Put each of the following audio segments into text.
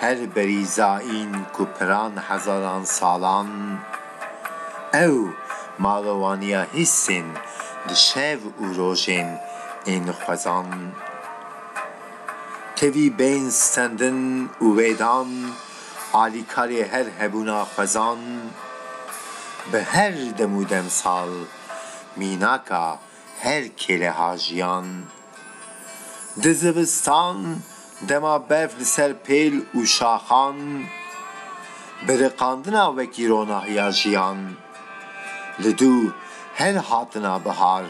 Her berîzayîn ku piran hezaran salan ew malowaniya hîsên di şev û rojên ên xwezan tevî bên stendin û wê dan alîkarê her hebûna xwezan bi her dem û demsal mînaka Her kêlehajiyan di zivistan dema berf li ser pêl û şaxan biriqandina wekî ronahiya jiyan. Li dû her hatina bihar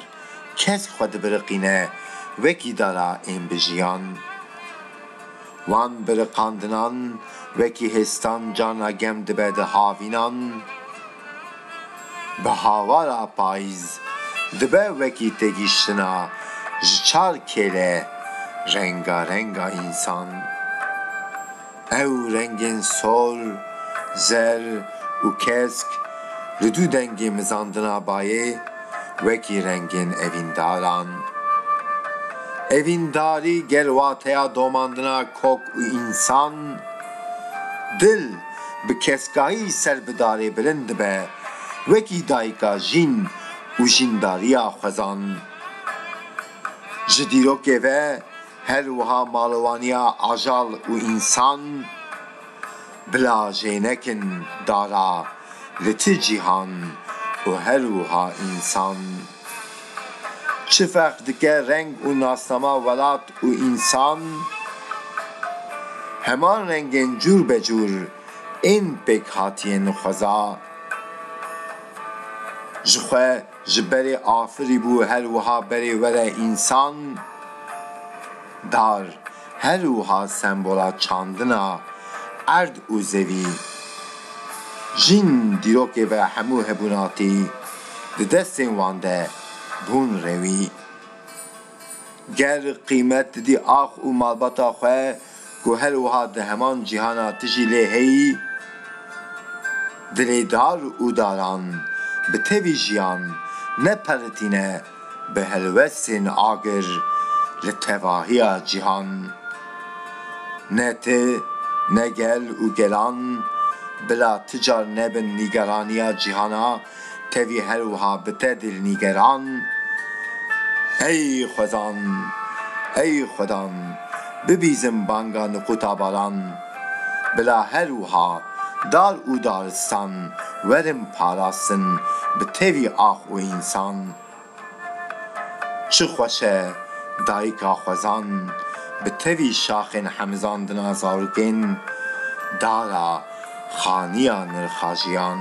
kesk xwe dibiriqîne wekî dara ên bi jiyan. Wan biriqandinan wekî hêstan carna gem dibe di havînan. Bi hawara payîz dibe wekî têgihiştina ji çar kêle rengareng a însan. Ew rengên sor, zer û kesk li du dengê mizandina bayê wekî rengên evîndaran. Evîndarî gel wateya domandina kok û însan, dil. bi keskayî ser bi darê bilind dibe, wekî dayika jîn û jîndariya xwezan. Ji dîrokê ve her wiha malwaniya ajal û însan bila jê nekin dara li ti cîhan û her wiha însan. Çi ferq dike reng û nasnama welat û însan? Heman rengên cûr be cûr ên pêkhatiyên xweza. Ji xwe ji berê afirîbû her wiha berê were însan dar. Her wiha sembola çandina erd û zevî jîn dîrokê ve hemû hebûnatî di destên wan de bûn rewî. Ger qîmet didî ax û malbata xwe ku her wiha di heman cîhana tijî lê heyî, dilê dar û daran bi tevî jiyan ne perritîne, bi helwestên agir li tevahiya cîhan. Ne ti, ne gel û gelan bila ti car nebin nîgeraniya cîhana tevî her wiha bi te dil nîgeran. Ey xwezan! Ey xwedan! Bibîzin banga niqûta baran. Bila her wiha dar û daristan werin parastin bi tevî ax û însan. Çi xweş e dayika xwezan bi tevî şaxên hemizan dina zarokên dara xaniya nirxa jiyan.